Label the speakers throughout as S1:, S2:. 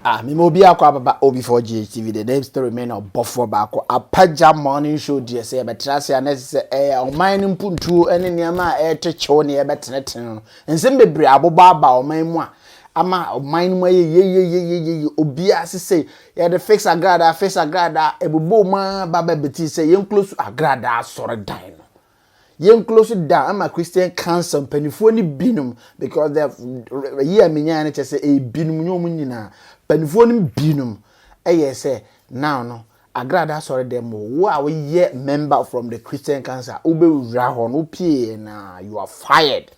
S1: Ah me ma obiaa kɔ ababa oh before GHTV the name still remain ɔbɔfoɔ baako apagya morning show deɛ sɛ yɛbɛtra ase a na ɛsɛ sɛ ɛyɛ ɔman no mpuntuo ne nneɛma a ɛretɔ kyew ne yɛbɛtenetene no nsɛm bebree a abobɔ aba ɔman mu a ama ɔman no mu ayɛ yeyeyeyeyeye obiaa se sɛ yɛde fix agradaa fix agradaa ɛbobɔɔ mu ara ba bɛbetee sɛ yɛnklosu agradaa asɔredan no Yɛn close da ama Christian Council mpanimfoɔ no binom because the yi a menyaeɛ no kyɛ sɛ ɛyɛ binom nyɛ wɔn nyinaa mpanimfoɔ no binom ɛyɛ sɛ now no Agrada asɔre dɛm mu wo a woyɛ member from the Christian Council a wobɛwura hɔ no wopieeɛ no a you are fired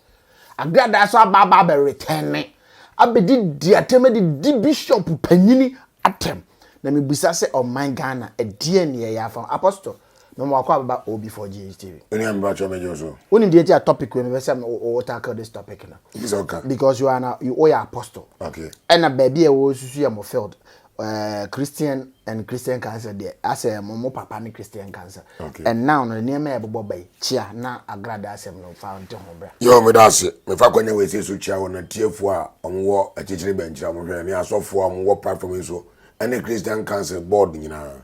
S1: Agrada asɔ aba aba abɛ return ne abɛdi di atɛm de di bishop panyini atɛm na mebisa sɛ ɔman Ghana ɛdeɛ ne yɛyɛ afa apostle Me mo akɔ abɛba OB4GHTV. Wo nua mepa kyɛw me gye wo
S2: so. Wo nim deɛ nti a topic wei
S1: me pɛ sɛ me wo tackle this topic no. Bi sɛ ɔka. Because you
S2: are na wo
S1: yɛ apostle. Okay. Ɛna
S2: baabi a wo
S1: susu yɛ mo field. Uh, Christian and Christian cancer deɛ asɛ mo mo papa ne Christian cancer. Okay. And now no
S2: nneɛma yɛ
S1: bobɔ bɛyi kyia na agrada asɛm no fa nte ho bra. Yo me da ase. Me
S2: fa kwanya wei sɛ so kyia wɔ na tiefo a wɔn wɔ akyekyere bɛnkyira wɔn hwɛ ne asɔfo a wɔn wɔ platform yi so Ɛne Christian Council board nyinaa.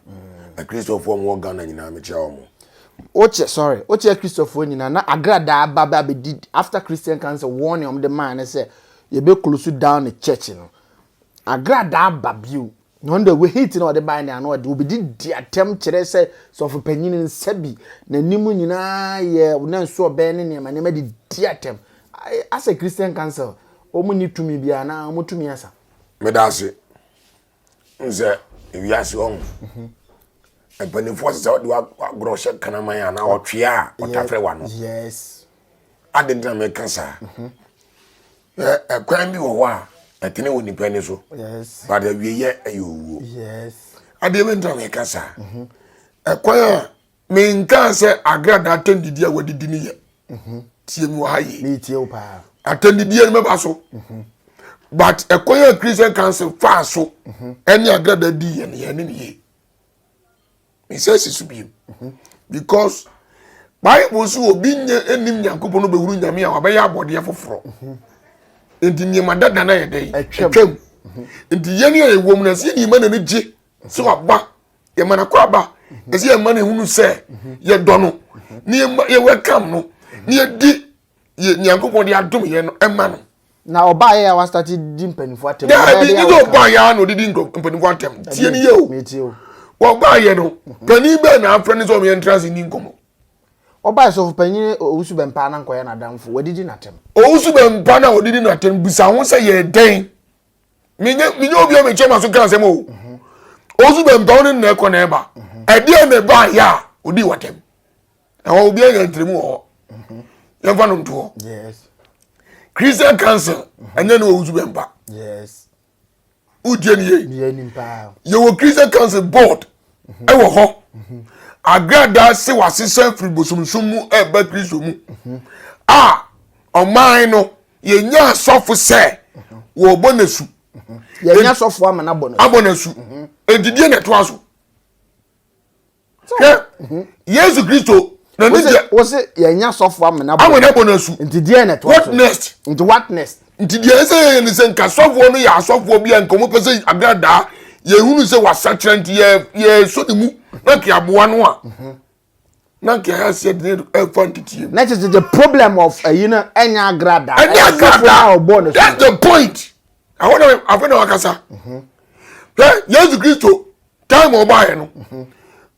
S2: Akristofoɔ a wɔwɔ Ghana nyinaa mekyia wɔn. Wokyɛ sorry wokyɛ Akristofoɔ nyinaa na agradaa ba bɛ abɛdi after Christian Council warning wɔn de maa ne sɛ yɛbɛ close down ne church no agradaa ba bio na wɔn de hate na wɔde bae ne ano ɔde wɔbɛdi di atɛm kyerɛ sɛ sɔfo panyin nsa bi n'anim nyinaa yɛ na nso ɔbɛn ne nneɛma nneɛma de di atɛm asɛ Christian Council wɔn ni tumi biara na wɔn tumi asa. Meda ase. nsɛ ewiase ɔn mpanimfoɔ sɛ sɛ wode wagorɔ hyɛ kraman a na ɔtwea a ɔtafrɛ wa no
S1: ade ntina
S2: meka saa ɛkwan bi wɔ hɔ a ɛtene wɔ nipa ni so but awieyɛ
S1: ɛyɛ
S2: owuo
S1: adeɛ bɛ ntina
S2: meka saa ɛkwan a Menkaa sɛ agrada atɛndidie a wadidi no yɛ. Mhm. Tie mi wɔ ha yie. Metie wo paa.
S1: Atɛndidie no mɛba
S2: so. Mhm. But ɛkwan a Christian Council faa so mhm. ɛne agrada di yɛ no yɛ ne ne yie. Mesɛ si so biem. Mhm. Because Bible so obi nyɛ ɛnim Nyankopɔn no bɛhuru Nyame a wabɛyɛ abɔdeɛ foforɔ. Nti nneɛma dada no ayɛ dɛn? Ɛtwam. Nti yɛne a yɛwɔ mu no ɛsɛ yɛnima na no gye. sɛ waba yɛma no akoraba ɛsɛ yɛma no ɛhunu sɛ yɛdɔ no ne yɛwɛkam no ne yɛdi nyankopɔn de adom yɛ no ɛma no na ɔbaa yɛ a
S1: wastate di mpanimfoɔ atɛm daabi ne sɛ ɔbaa
S2: yɛ a na ɔdedi mpanimfoɔ atɛm tie ne yɛ o
S1: wɔbaa yɛ no
S2: mhm. panin bɛɛ na afrɛ ne sɛ ɔmeyɛ ntra se ni nkɔmmɔ ɔbaa
S1: sɔfo panyin owusu bɛmpa na nkɔyɛ n'adamfo wadidi n'atɛm owusu bɛmpa
S2: na ɔdidi n'atɛm bisa ho sɛ yɛ dɛn menyɛ menyɛ obi a mekyɛ ma so ka nsɛm o mhm. osu bɛ mpɛw ne nna ɛkɔ na ɛba mhm. ɛdeɛ na ɛba yɛ a odi wɔtɛm ɛhɔ obi anya ntirimu wɔ hɔ mhm. yɛmfa no ntoɔ christian council ɛnyɛ ne wɔ osu bɛ mpa
S1: wotie
S2: ne yie yɛwɔ
S1: christian council
S2: board ɛwɔ hɔ agradaa se wasesɛ firi bosomsom mu ɛba kristo mu a ɔman no yɛnya asɔfo sɛ wɔbɔ no asu yɛnya
S1: asɔfo ama no abɔ no abɔ no asu
S2: mhm. enti deɛ na ɛtoa so hwɛ mhm. yesu kristo na ne deɛ wɔsɛ yɛnya
S1: asɔfo ama no abɔ no asu nti deɛ na ɛtoa so
S2: what
S1: next nti what
S2: next
S1: nti deɛ ɛsɛ yɛyɛ ne
S2: sɛ nka sɔfoɔ no yɛ asɔfoɔ bi a nka wɔpɛ sɛ agradaa yɛhunu sɛ wasakyerɛ nti yɛsɔ ne mu na ke aboa no a mhm. na nka ɛha sɛ de ɛfa nteteɛ mu. na kyerɛ the problem
S1: of ɛyi no ɛnyɛ agradaa ɛnyɛ agradaa ɔbɔ
S2: ne so that's the point ɛhɔ na afei na wakasa mhm. hwɛ yesu kristo time ɔbaeɛ no mhm.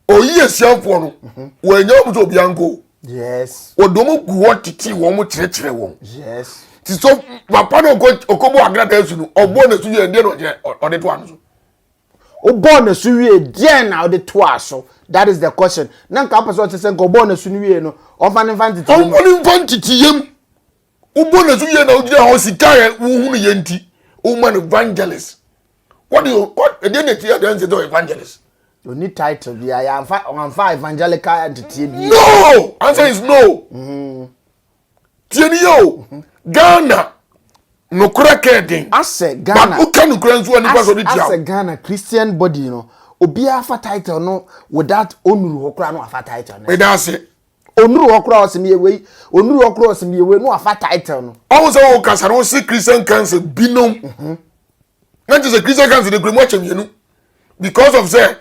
S2: ɔyi asiafoɔ no mhm. wɔanya wɔn sɛ obia nko wɔde
S1: wɔn gu hɔ
S2: tete wɔn kyerɛkyerɛ wɔn ti so papa no ɔkɔbɔ agradaa su no ɔbɔ ne so yɛ ɛdeɛ na ɔde to ano so wobɔɔ
S1: n'asu wie deɛn na wode toaa so that is the question na nka wopɛ sɛ ɔkyɛ sɛ nka ɔbɔɔ n'asu no wie no ɔmfa ne mfa ntete yam ɔmfa ne mfa ntete
S2: yam wobɔ n'asu wie na wogyina hɔ sika yɛ wohunu yɛ nti woma no evangelist what do you what ɛdeɛ na ɛti adanse dɛ evangelist oni title
S1: bi a yɛamfa ɔamfa evangelical nteteɛ bi no answer
S2: is no mm -hmm. Tie ni yɛ o, Ghana nokorɛ kɛ den, Asɛ but Ghana wo
S1: kɛ nokorɛ nso a
S2: nipa sɔ de tia wo. Asɛ Ghana
S1: Christian body no, obiara fa title no without ɔnuru hɔ koraa na wafa title no. Meda ase.
S2: Ɔnuru hɔ koraa
S1: ɔse meyɛ wei, ɔnuru hɔ koraa ɔse meyɛ wei na wafa title no.
S2: Ɔhu sɛ
S1: wo kasa
S2: no wo
S1: se
S2: Christian council binom. na nkyɛ sɛ christian council de kura mu akyɛ mmienu because of sɛ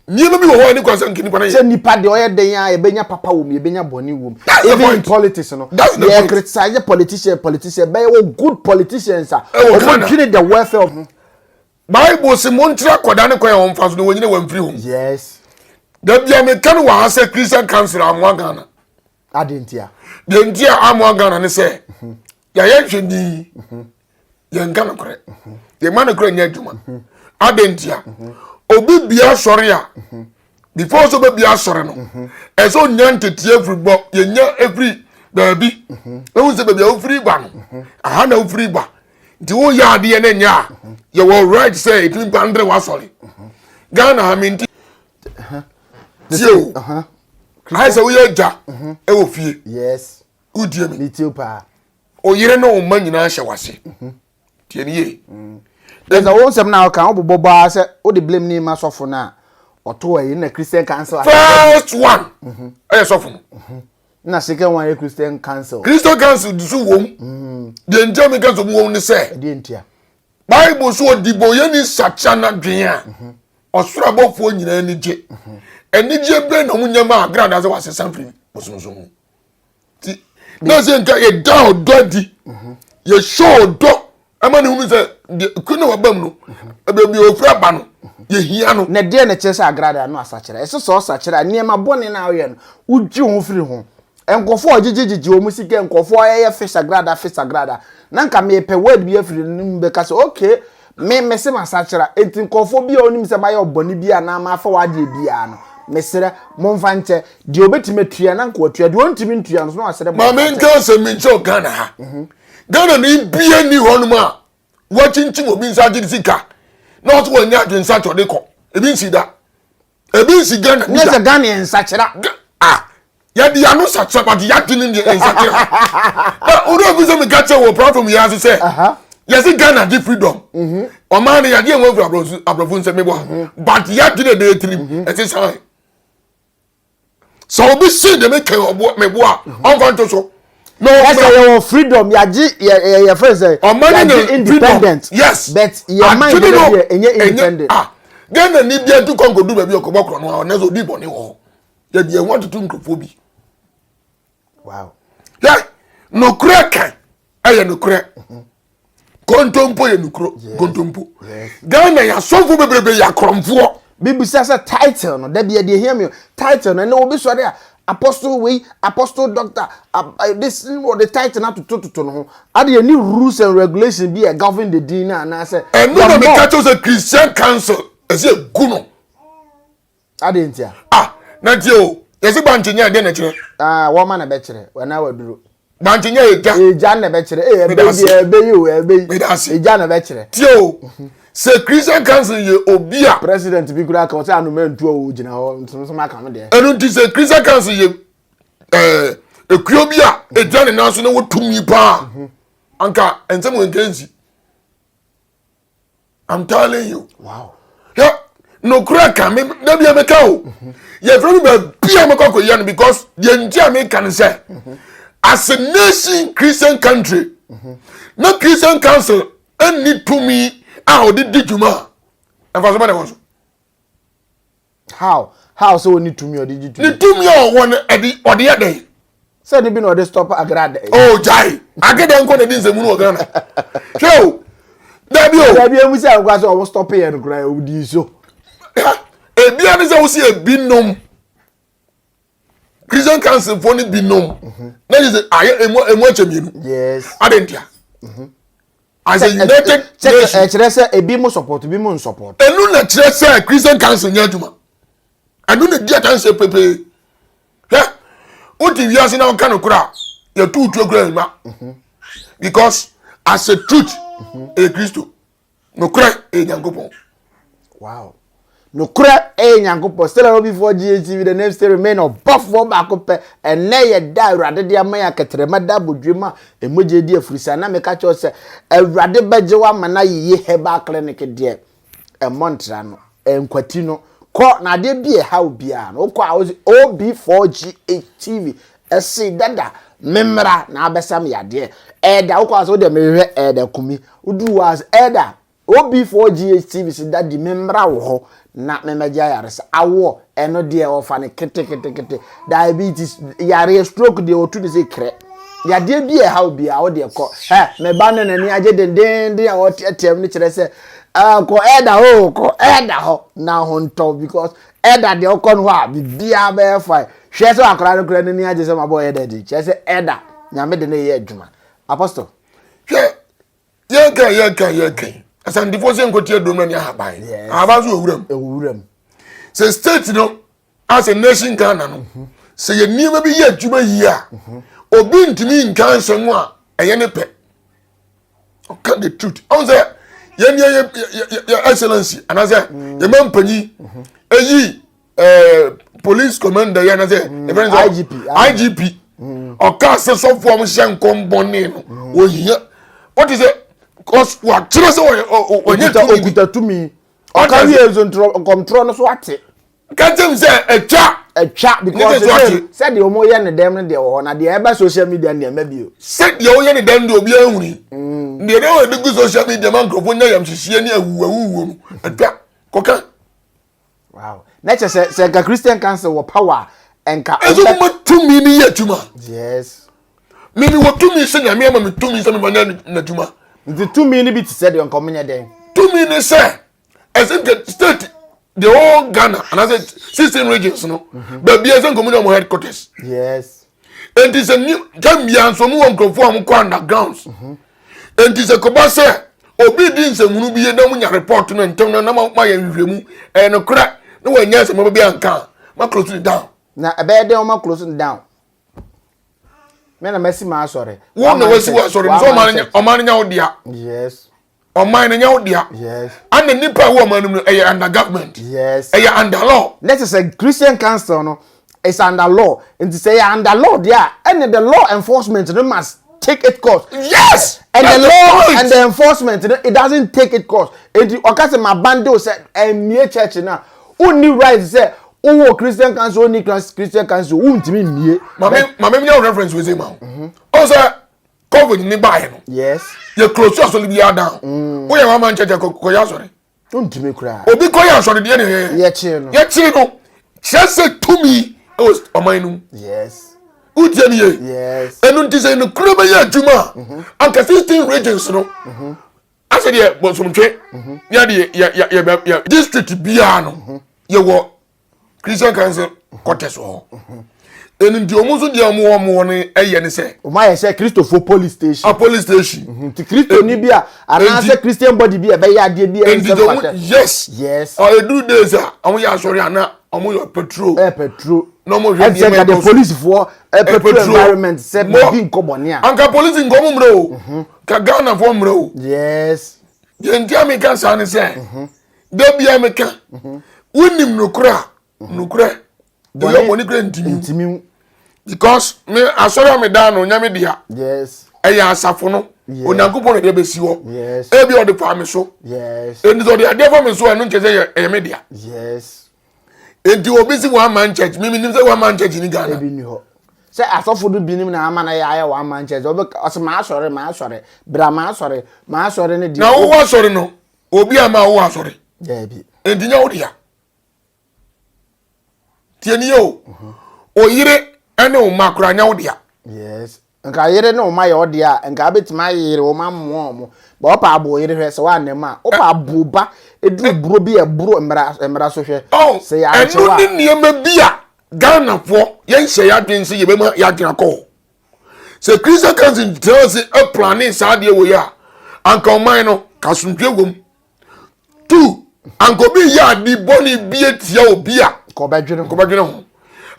S2: nneɛma bi wɔ hɔ a ne kwan sɛ nkenipa no yɛ. sɛ nipa deɛ ɔyɛ dɛn a
S1: yɛbɛnya papa wɔ mu yɛbɛnya bɔne wɔ mu even in politics no yɛ criticize
S2: politician
S1: politician bɛyɛ wɔ good politicians a wɔn dwene the welfare of. bible
S2: se mo nkyerɛ akɔda ne kwan a wɔn fa so na wɔn nyina wɔn mfiri ho. yes.
S1: dabi a
S2: meka no wɔ ha sɛ christian council amoa ghana. Adịn nti a?
S1: Deɛ nti a
S2: amoa Ghana ne sɛ yɛayɛ nhwɛni yɛnka nokorɛ yɛma nokorɛ nyɛ adwuma adɛn nti a obi bia sɔre a before sɛ obɛbia sɔre no ɛsɛ onya nteteɛ afiri bɔ yɛnya afiri baabi ɛhu sɛ baabi a wofiri ba no aha na wofiri ba nti woyɛ adeɛ no nyɛ a yɛwɔ right sɛ ɛtumi ba ndere wasɔre ghana ha menti tie o ayɛ sɛ woyɛ agya ɛwɔ fie wodie
S1: mi oyere ne wo
S2: ma nyinaa hyɛ wase tie ne yie ɛsɛ wo
S1: nsɛm na ɔka wobobɔ baa sɛ wode blame ne ma sɔfo no a ɔto ɛyi na christian council first
S2: one ɛyɛ sɔfo no na
S1: second one yɛ christian council christian council dusu wom
S2: deɛ nkyɛn mi ka sɛ wɔn ne sɛ ɛdeɛ ntia
S1: Bible so
S2: ɔdebɔyɛni nsakyera n'adwene a, ɔsoro abɔfoɔ nyinaa ani gye. Anigyeɛ bɛn na wɔnya ma berɛ a sɛ wɔasesa firi bosonsom mu? Nti, na sɛ nka yɛda ɔdɔ adi, yɛhyɛ ɔdɔ ɛma ne hunu sɛ deɛ kuro na waba mu no, baabi a ɔfiri aba no, yɛhia no. Na deɛ na ɛkyerɛ sɛ agrada
S1: no asakyera? Ɛsɛ sɛ ɔsakyera nneɛma bɔne no a woyɛ no, wodwe wo ho firi ho. nkurɔfoɔ a ɔgyegyegyegye wɔn sika nkurɔfoɔ a ɛyɛ fe sagrada fe sagrada na nka mepɛ word bi afiri no mu bɛka sɛ okay me mese masakyera enti nkurɔfoɔ bi a wɔnim sɛ mayɛ ɔbɔne bi anaa mafa w'adeɛ biara no mesrɛ momfa nkyɛ deɛ ɔbɛtumi atua na nka watua deɛ ɔntumi ntua no so na wasrɛ ma menka sɛ
S2: menkyerɛ Ghana ha mhm. Ghana ne bia ni hɔnom a wakyinkyim obi nsa agye sika na ɔso wɔnyɛ adwensa kyɛ ɔde kɔ ebi nsi da ebi nsi ghana nisa. nyɛ sɛ ghana yɛ nsakyera.
S1: ah
S2: yɛde yɛn ano sakyera but yɛadwene deɛ nsakyera na wode obi sɛ meka kyerɛ wɔ platform yɛn ase sɛ yɛse ghana de freedom mhm. ɔmaa no yɛde ɛwɔ firi aborɔfo nsɛ mebɔ mhm. but yɛadwene ɛbɛyɛ tirim mhm. ɛte sane sɛ obi se de mekɛ meboa a mhm. ɔmfa nto so ɛsɛ yɛwɔ freedom
S1: yɛagye yɛyɛ fɛ sɛ yɛagye independent yes but
S2: yɛma yɛ
S1: deɛ ɛnyɛ independent ah, ghana ni
S2: bia tu kɔnkɔ du baabi ɔkɔbɔ korɔ no a ɔnɛ sɛ ɔdi bɔne wɔ hɔ yɛdeɛ ho atoto nkurɔfoɔ bi
S1: wow yɛ
S2: nokorɛ kan ɛyɛ nokorɛ mhm. kontompo yɛ nokuro kontompo ghana yɛ asɔfo bebrebe yɛ akorɔmfoɔ bibisa sɛ
S1: title no dabi ɛde ehia mi title no ɛnna obi sɔre a apostle wei apostle doctor eh, this wɔde title no atotototo no ho ade ɛni rules and regulations bi a govern the din no anaasɛ ɛno na meka kyɛw sɛ
S2: christian council ɛsɛ egu no
S1: adɛn ntia ah na
S2: tie o yɛse bankye nyɛ ɛdɛn na ɛkyerɛ ah wɔma na ɛbɛkyerɛ
S1: wɔna waduro bankye nyɛ ɛgya
S2: ɛgya na ɛbɛkyerɛ
S1: ee eh, ɛbɛyi deɛ ɛbɛyi o ɛbɛyi ɛgya na ɛbɛkyerɛ tie o mhm.
S2: sɛ christian council yɛ obi a president bi kura ka
S1: ɔsɛ anoma ntuo o gyina hɔ nsonsom aka no deɛ ɛno nti sɛ christian council
S2: yɛ ɛɛ eh, ekuo bi a ɛgya ne nan so na wɔtumi paa mhm. anka nsɛm wɔ nkansi i'm telling you wow hwɛ nokura ka me na bia me ka o mhm. yɛ fɛ mi ba bia me kɔ ko yɛ no because yɛ nti a me ka no sɛ mhm. as a nation christian country mhm. na christian council ɛnni tumi a ɔde di dwuma ɛfa so bɛ na ɛwɔ so. how
S1: how sɛ ɔne tumi ɔde gye tumi. ne tumi a ɔwɔ no
S2: ɛde ɔde yɛ dɛn. sɛ ne bi na ɔde
S1: stop agrada yi. o gyae
S2: agada nkɔ na ɛdi nsɛmu no wɔ ghana hwɛ o dabi o.
S1: dabi emu sɛ nkwa sɛ ɔmo stop yɛ no koraa ɔmo di so.
S2: ebia ne sɛ wosi ebi nom. christian council fo no binom mhm. na yɛ sɛ ayɛ emu emu akyɛ mmienu adi ntia mhm. as a united nation ɛkyerɛ sɛ ebi mu
S1: support ebi mu n support enu na kyerɛ sɛ
S2: christian council nyɛ adwuma ɛnu na di adansi pepee hɛ o ti wiase na ɔka no kora yɛ tu tu ekura ɛma because as a truth ɛyɛ kristo. nokorɛ ɛyɛ nyankopɔn wow
S1: nokorɛ ɛyɛ nyankopɔn still a obifoɔ gatv the name still remain ɔbɔfoɔ baako pɛ ɛnɛ yɛ da awurade de ama yɛ akɛtɛrɛma da abodwe mu a ɛmogye di afurisa na meka kyɛw sɛ awurade bɛgye wo ama no ayeye herbal clinic deɛ ɛmmɔ ntra no ɛnkwati no kɔ na adeɛ bi ɛha wo biara no wokɔ a wosɛ ob4ghtv Ɛsee dada, me mmra na abɛsa me yadeɛ. Ɛɛda, wokɔ ase wode mehwehwɛ Ɛɛda Kumi. Woduru hɔ ase, Ɛɛda, OB4GH TV se daddy me mmra wo hɔ na me mmɛgye ayaresa. Awoɔ, ɛno deɛ wɔfa no keteketekete. Diabetes, yareɛ, stroke deɛ wɔtu no sɛ krɛ. Yadeɛ bi a ɛha wo biara wo deɛ kɔ. Hɛ, me ba no n'ani agye dendeenden a ɔteateam no kyerɛ sɛ ah, kɔ Ɛɛda hɔ o, kɔ Ɛɛda hɔ na ho ntɔ because Ɛda deɛ ɔkɔ no hɔ a biribiara bɛyɛ fine hwɛ sɛ akwadaa no koraa n'ani agye sɛ mabɔ ɛda akyi kyerɛ sɛ ɛda nyame de no yɛ adwuma apostle. hwɛ yɛka
S2: yɛka yɛka asantefoɔ sɛ nkɔti adurom na ne ahaban ahaban so ɛwuram ɛwuram sɛ state no asɛ nation ghana no mhm. sɛ yɛ nneɛma bi yɛ adwuma yie a mhm. obi ntumi nka nsɛm a ɛyɛ ne pɛ ɔka the truth ɔn sɛ yɛn yɛ yɛ yɛ excellence anasɛ mm. yɛ mɛ mpanyin mhm. eyi ɛɛ police commander yɛ anasɛ ɛfɛ n sɛ igp igp ɔka sɛ sɔfo ɔmo hyɛ nkɔmbɔne no mm. ohia wɔte sɛ cause wakyerɛ sɛ ɔyɛ ɔnyɛ tumi okuta
S1: tumi ɔka wiye nso nkɔmtorɔ no so ate. ka kyɛm sɛ
S2: atwa atwa because sɛ sɛdeɛ wɔn yɛ
S1: ne dɛm no deɛ wɔ hɔ na deɛ ɛba social media no deɛ ɛmɛ bio sɛdeɛ wɔyɛ ne dɛm
S2: deɛ obi ahuri mm. deɛ ɛdɛ wɔde gu social media ma nkurɔfoɔ nya yam hyehyeɛ ne awu awu wɔ no atwa kɔka wow
S1: na kyɛ sɛ sɛ nka christian council wɔ power nka ɛso mo ma tumi
S2: ne yɛ adwuma yes
S1: mimi wɔ
S2: tumi sɛ nyame ama me tumi sɛ mema nya n'adwuma nti tumi no bi
S1: te sɛ deɛ nka ɔmenyɛ dɛn tumi ne sɛ
S2: ɛsɛ nka state the whole ghana anaasɛ sixteen regions no mhm. baabi ɛsɛ nka ɔmo nyɛ ɔmo headquarters yes
S1: nti sɛ
S2: ni time bia nso ɔmo wɔ nkurɔfoɔ a ɔmo kɔ undergrounds mhm. nti sɛ kɔba sɛ obi di nsɛmunu bi yɛ na ɔmo nya report no ntɛm na na ma yɛ nhwehwɛmu ɛyɛ no korɛ na wɔn nyɛ nsɛmaba bi anka ma close it down. na ɛbɛyɛ dɛ ɔmo
S1: close it down mɛ na mɛ si ma asɔre. wɔn na wɔsi wɔ asɔre
S2: nso ɔmo anya ɔmo anya ɔdia. yes.
S1: ɔman no nyɛ
S2: wo dea ana nipa
S1: ɛwɔ ɔman
S2: no mu no ɛyɛ under government ɛyɛ under
S1: law na
S2: kyerɛ sɛ christian
S1: council no is under law nti sɛ ɛyɛ under law deɛ a ɛne the law enforcement no must take it course yes and the
S2: law
S1: and the enforcement no it doesn't take it course nti ɔka sɛ ma bande o sɛ ɛmmie church no a wonni right sɛ wowɔ christian council wonni christian council wontumi mmie maame maame mi yɛ
S2: reference wei sɛ ma o mhm. ɔsɛ covid ni baayɛ no yes yɛ close
S1: asɔre bi
S2: adan mm. woyɛ wama nkyɛkyɛ kɔyɛ asɔre ntumi koraa
S1: obi kɔyɛ asɔre deɛ ne
S2: yɛyɛ yɛkyere no yɛkyere no kyerɛ sɛ tumi ɛwɔ ɔman no mu yes
S1: wotie ne yie
S2: yes
S1: ɛnu nti sɛ nokura
S2: bɛyɛ adwuma a mhm. anka sixteen regions no mhm. asɛ deɛ bɔnsomtwe mhm. yɛde yɛ yɛ yɛ district biara no yɛwɔ christian council quarters wɔ hɔ mhm. ɛnu nti ɔmo nso deɛ ɔmo wɔ ɔmo wɔ no ɛyɛ ne sɛ. ɔmo ayɛ sɛ kristofo
S1: police station. a police station.
S2: Mhm. nti kristo ni bi a
S1: anaasɛ christian body bi a ɛbɛyɛ adeɛ bi ɛyɛ sɛ pata. yes yes. ɔ eduru days
S2: a ɔmo yɛ asɔre ana ɔmo yɛ petrol. ɛ petrol. na ɔmo
S1: hwɛ nneɛma ɛkɔ
S2: so. ɛsɛ polisi foɔ
S1: ɛ petrol environment sɛ bibi nkɔmɔ ni a. anka polisi nkɔmɔ
S2: mmerɛ o. Mhm. ka ghana foɔ mmerɛ o. yes.
S1: yɛn ti a mi
S2: ka saa ni sɛ. Mhm. da bia meka wonim nokorɛ a nokorɛ ɛyɛ bɔne kura ntimi because me asɔre a meda no nyame dea ɛyɛ
S1: asafo no
S2: onyankopɔn na ɛde bɛsi hɔ ebi ɔde paa
S1: me so
S2: ɛnti sɛ ɔde
S1: adeɛ fa me
S2: so ɛno nkyɛ sɛ ɛyɛ me dea
S1: ɛnti
S2: obi si one man church mimi nim sɛ one man church ni ghana
S1: sɛ asɔfo no binom na ama no yɛ ayɛ one man church ɔsɛ maasɔre maasɔre bra maasɔre maasɔre no deɛ na wowɔ asɔre no
S2: obi a ma wo asɔre nti
S1: nyɛ wo dea
S2: tie ni o oyere ne wo ma kora nyɛ wo dea yes nka
S1: yere ne wo ma yɛ wo dea nka abɛtumi ayere wo ma mmoa ɔmo ba ɔpa abo yere hwɛ sɛ woanna mu a ɔpa abo ba ɛduru buro bi a ɛboro mmara so hwɛ oh, sɛ yɛankyɛw
S2: a ɛno ne nneɛma bi a ghanafoɔ yɛnhyɛ yɛadwene sɛ yɛbɛma yɛadwene akɔ sɛ christian council tena ase ɛplane saa adeɛ wɔ yi a anka ɔman no ka asomdwe wɔ mu two anka obi yɛ ade bɔne bi atia obi a nkɔbɛdwene ho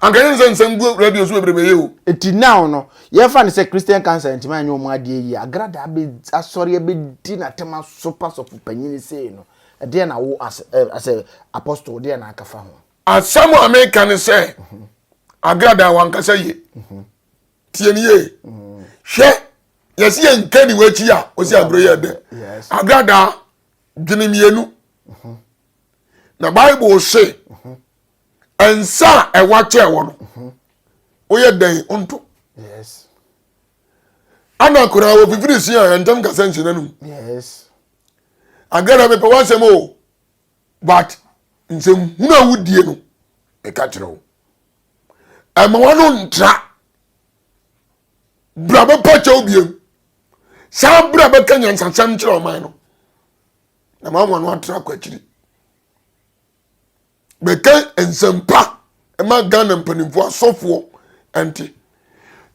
S2: anka yɛn sɛ nsɛm gu radio so bebrebe yɛ o. eti now no
S1: yɛfa no sɛ christian council ntoma anyɛ wɔn adeɛ yie agrada abɛ asɔre abɛdi n'atam asopa sɔfo panyin sei no ɛdeɛ na wo as ɛ asɛ apostle deɛ na akafa ho. Asɛm a meka
S2: ne sɛ, Agrada wankasa yie. Tie ne yie. Hwɛ, yɛsi yɛ nkani w'akyi a, ɔsi aburo yɛ dɛ. Agrada dwene mmienu. Na Bible se, nsa a ɛwa kyɛ wɔ no, woyɛ dɛn nto? Ana koraa wɔfifiri si a, ɛntɛm kasa
S1: nsi
S2: n'anum. Agrada mepɛ w'asɛm o. But nsɛm hunu a wodie no meka kyerɛ wo ɛma wano ntra bra bɛpa kyɛw biem saa bra bɛka nyansasɛm kyerɛ ɔman no na ma wano atra kɔ akyiri bɛka nsɛmpa ɛma ghana mpanimfoɔ asɔfoɔ ɛnte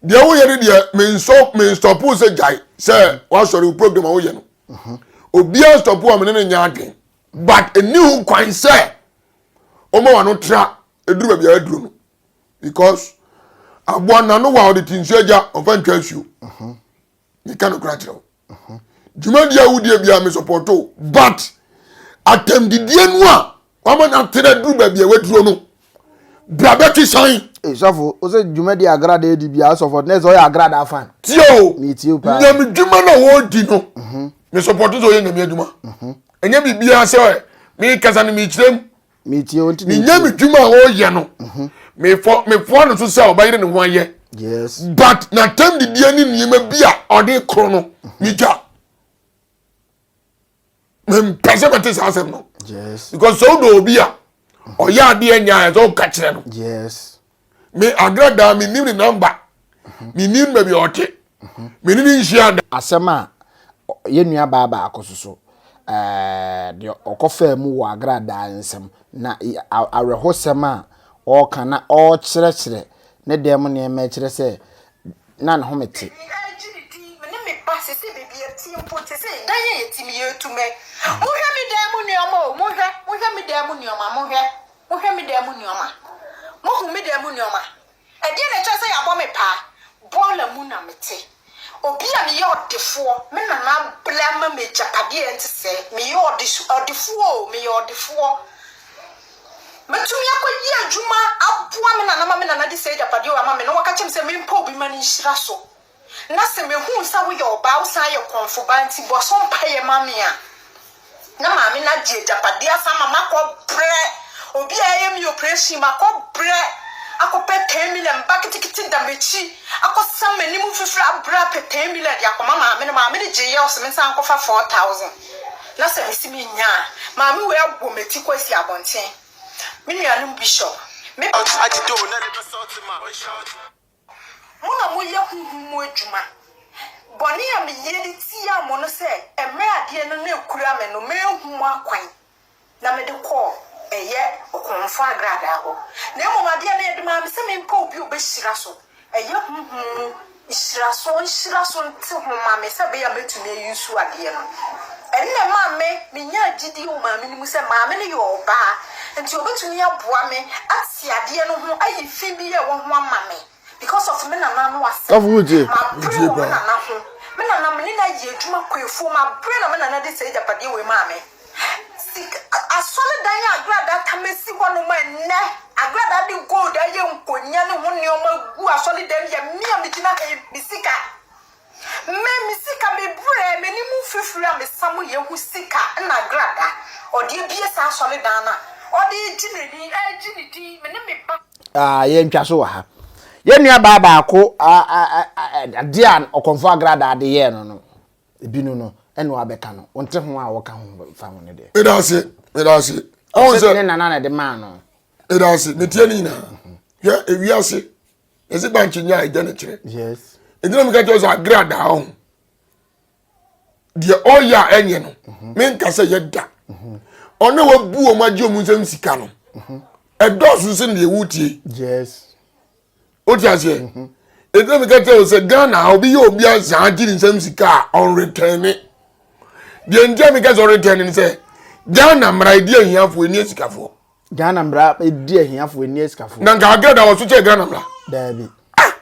S2: deɛ woyɛ no deɛ menstɔpo sɛ gyae sɛ woasɔre wo program a woyɛ no mhm. obiaa stɔpo a mene no nyɛ adwen but ɛni ho kwan sɛ ɔma wa no tra ɛduru baabi a aduru no because aboa nano wa ɔde ti nsuo agya ɔmfa ntwa nsuo mhm. meka no kora kyerɛ wo Uh-huh. Dwumadie a wodie biara me support o but atɛmdidie no a wama no atere duru baabi a waduro no bra bɛtwe san. Ee sɔfo wo sɛ
S1: dwumadie agrada adi biara sɔfo na ɛsɛ ɔyɛ agrada fan. Tie o metie
S2: paa. Nyame
S1: dwuma na wɔdi
S2: no uh-huh. me support sɛ ɔyɛ nyame adwuma ɛnyɛ uh-huh. biribiara sɛ mekasa no mekyerɛm metie wo nti
S1: menyɛ me dwuma a ɔreyɛ
S2: no mhm. mefɔ mefoa no so sɛ ɔbɛyere ne ho ayɛ yes but
S1: na tam
S2: didiɛ ne nneɛma bi a ɔde korɔ no mhm. megya mempɛ sɛ mɛte saa asɛm no yes because sɛ wodɔ
S1: obi a
S2: mhm. ɔyɛ adeɛ nya a ɛsɛ woka kyerɛ no yes
S1: Me Adra
S2: daa me nim ne namba. Me nim baabi a ɔte. Me ne ne nhyia da. Asɛm a
S1: yɛn nua baa baako so so ɛɛ deɛ ɔkɔfaa mu wɔ Agra daa nsam na awerɛhosɛm a ɔreka na ɔrekyerɛkyerɛ ne dan mu nneɛma yi kyerɛ sɛ na ne home te. Me ara gye me din, me ne me ba sese baabi a ɛte mpo te sɛ dan a yɛte mu yɛretu me. Monhwɛ me dan mu nneɛma o, monhwɛ, monhwɛ me dan mu nneɛma, monhwɛ.
S3: Mohwɛ me dan mu nnoɔma. Mohu me dan mu nnoɔma. Ɛdeɛn na ɛkyerɛ sɛ yɛabɔ me paa? Bɔɔla mu na mete. Obi a meyɛ ɔdefoɔ. Me nana abla ama me agyapadeɛ a ɛte sɛɛ. Meyɛ ɔdesu, ɔdefoɔ o, meyɛ ɔdefoɔ. Mɛtumi akɔyɛ adwuma aboa me nana ma me nana de saa agyapadeɛ wei ama me na waka kyerɛ me sɛ mempɛ obi ma no nhyira so. na sɛ mehunu sɛ woyɛ ɔbaa a wosan yɛ korɔmfo ba nti, bɔ so mpaeɛ ma me a, na maame no agye agyapadeɛ afa ama makɔbrɛ obi a ɛyɛ me oprehyɛn, makɔbrɛ akɔpɛ ten million ba ketekete da m'akyi, akɔsa m'anim mfifire abrɛ apɛ ten million de akɔma maame no, maame no gyeeɛ ɔse mensan nkɔfa four thousand, na sɛ mese mennya a, maame wei abɔ m'ati kɔ asi abɔnten. Me nuanom Bishop, me. Mo na moyɛ honhom mu adwuma. Bɔne a meyɛ de tiaa mo no sɛ mmerɛ adeɛ no na ɛkura me no manhu mo akwan na mede kɔɔ ɛyɛ ɔkorɔmfoɔ agradaa hɔ, na mmom adeɛ no ɛde maa me sɛ mempɛ obi a ɔbɛhyira so, ɛyɛ honhom mu hyira so, ɔnhyira so nte ho ma me sɛ ɛbɛyɛ a mɛtumi ayi nsuo adeɛ no. Ɛno na ɛmaa me menyaa gyidie wɔ maame no mu sɛ maame no yɛ ɔbaa nti ɔbɛtumi aboa me ate. te adeɛ no ho ayi fi bi a ɛwɔ ho ama me because of me nana no asɛm Ɔfo gye. mabrɛ wɔ
S1: me nana ho
S3: me nana me ne no ayɛ adwuma kɔ afuo mabrɛ na me nana de saa agyapadeɛ wei maa me Sik- a- asɔre dan a agradaa tam asi hɔ nom a ɛnnɛ agradaa de gold ayɛ nkonya ne ho nneɛma gu asɔre dan yɛ me a megyina ha yi, me sika Me me sika me brɛ m'anim mfifiri a me sa mu yɛ ho sika na agrada ɔde abie saa asɔredan no a ɔde regye n'ani regye ne din me ne me ba. Ah, yɛntwa so wɔ ha.
S1: Yɛn nua baa baako adeɛ a ɔkɔmfo agradaa de yɛɛ no no, ebi no no, ɛna wabɛka no. Wonte ho a wɔka ho fa ho no deɛ. Meda ase, meda ase.
S2: Ɔsɛ ne
S1: nana na ɛde maa no. Meda ase, metie
S2: ne nyinaa. Hwɛ, ewiase yɛsi bankye nya ɛgya ne kyerɛ ɛgyina mi
S1: ka kyerɛ sɛ
S2: agra daa ho deɛ ɔyɛ a ɛnyɛ no mhm. menka sɛ yɛda mhm. ɔne wabu wɔn agye wɔn nsam sika no mhm. ɛdɔɔso sɛ deɛ wotie
S1: wote
S2: aseɛ ɛgyina mi ka kyerɛ sɛ ghana obi yɛ obi azaa gye ne nsam sika a ɔnretɛn ne deɛ ntia mi ka sɛ ɔretɛn ne sɛ ghana mmara ɛdi ahiafoɔ ɛni asikafoɔ ghana mmara
S1: di ahiafo ɛni asikafo. na nka agada wɔ so kyɛ
S2: ghana mmara. daabi.
S1: ah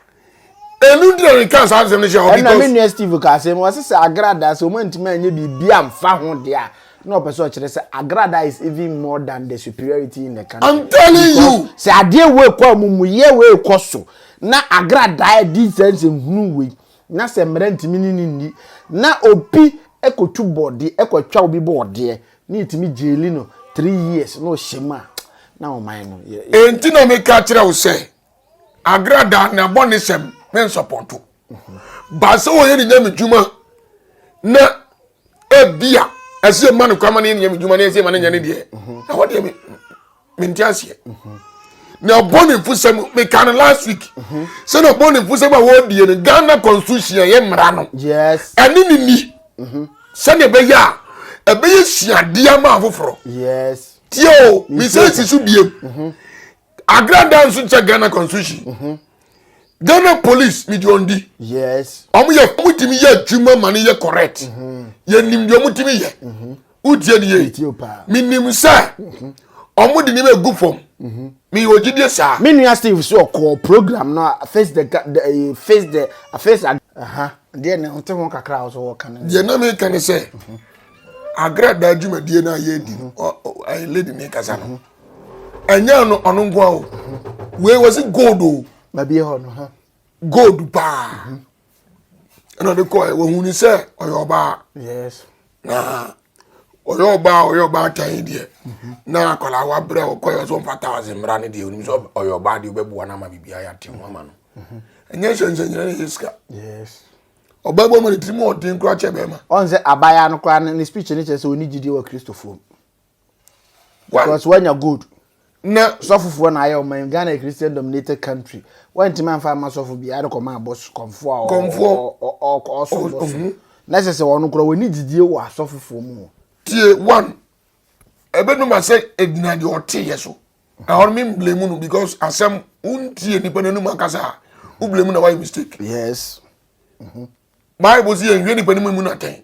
S2: ɛnu ntina ne kan saa asɛm no hyɛ hɔ because. ɛna me nua steve ka
S1: asɛm wɔsi sɛ agrada sɛ wɔn ntoma nye biribi anfa ho deɛ a na ɔpɛ sɛ ɔkyerɛ sɛ agrada is even more than the superiority in the country. i'm telling because you.
S2: sɛ adeɛ wei kɔ
S1: amumuyɛ wei kɔ so na agrada di sɛ nsɛ nhunu wei na sɛ mmerɛ ntumi ne ne nni na obi ɛkɔtu bɔɔdeɛ ɛkɔtwa obi bɔɔdeɛ. Ne yɛtumi jaili no three years na ɔhyɛ mu a na ɔman no. Enti na meka
S2: kyerɛ wo sɛ agrada na bɔ ne sɛm me nsɔpɔto. Ba sɛ wɔyɛ ne nyame dwuma na ebia ɛsɛ ma no kwama ne nyame dwuma na ɛsɛ ma no nyɛ ne deɛ. Na hɔ deɛ me. mente aseɛ na ɔbɔ ne mfosɛm meka no last week mhm. sɛ na ɔbɔ ne mfosɛm a wɔredie no ghana constitution ɛyɛ mmara no ɛne ne
S1: ni mhm.
S2: sɛdeɛ ɛbɛyɛ a ɛbɛyɛ suadeɛ ama afoforɔ tie
S1: o mesɛ
S2: si so biem mhm. agrada nso kyɛ ghana constitution ghana police mede ɔndi ɔmo yɛ
S1: ɔmo tumi
S2: yɛ adwuma ma no yɛ correct yɛnim deɛ ɔmo tumi yɛ wotie no yie menim sɛ ɔmo de nneɛma egu fam meyɛ ogyidie saa. me nua steve so ɔkɔɔ
S1: program no a face the ga the eh, face the a face a aha deɛ na ɔte ho kakra a ɔsɛ ɔka no deɛ na meka ne sɛ
S2: agradaa dwumadie no a yɛdi no ɔ- ɔ- ɛyɛ lady ne kasa no ɛnyɛ no ɔno nko a o wei wɔ se gold o babie hɔ no ha
S1: gold paa
S2: ɛna ɔde kɔɛ wɔhunu sɛ ɔyɛ ɔbaa
S1: na ɔyɛ
S2: ɔbaa ɔyɛ ɔbaa tan deɛ na akwadaa wabrɛ ɔkɔɛ ɔsɛ ɔmfa thousand mmra no deɛ onim sɛ ɔyɛ ɔbaa deɛ wobɛboa no ama biribiaa yɛate ho ama no ɛnyɛ nsɛnsɛnyina ne yɛ sika
S1: ɔbaa bɔ ma
S2: ne tirim ɔden koraa kyɛ bɛrima ɔn sɛ abaayaa no
S1: koraa ne speech no kyerɛ sɛ ɔni gyidie wɔ kristofoɔ mu because wanya gold na sɔfofoɔ
S2: na ayɛ ɔma
S1: yɛn ghana christian dominated country wantumi anfa ama sɔfo bi ade kɔma abɔs kɔnfoɔ a kɔnfoɔ ɔsɔ bɔso na ɛsɛ sɛ wɔn korɔ wɔn gyidie wɔ asɔfofoɔ mu. tie
S2: one ɛbɛnum asɛ ɛgyina deɛ ɔte yɛ so na wɔn mi blame no because asɛm wontie nipa n'anum akasa a wo blame na wayɛ mistake. yes. Mm -hmm. bible si yɛnhwɛ nipa no mu no atɛn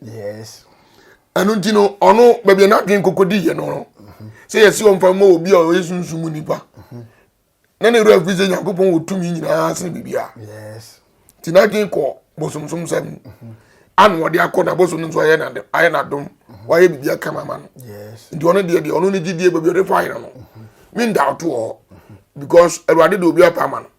S1: ɛno nti
S2: no ɔno baabi a n'adwene nkokɔdi yɛ no no mhm. sɛ yɛsi ɔmfa mmɔ obi a ɔyɛ sunsum mu nipa mhm. na ne wura firi sɛ nyankopɔn wɔ tumi nyinaa sene biribia
S1: nti n'adwene kɔ
S2: bosomsom sɛm mhm. ana wɔde akɔ na bosom no nso ayɛ n'adom wayɛ biribia kama ma no nti ɔno deɛ
S1: deɛ ɔno ne
S2: gyidie baabi ɔde faeɛ no no menda wotoɔ because awurade de obi apa ama no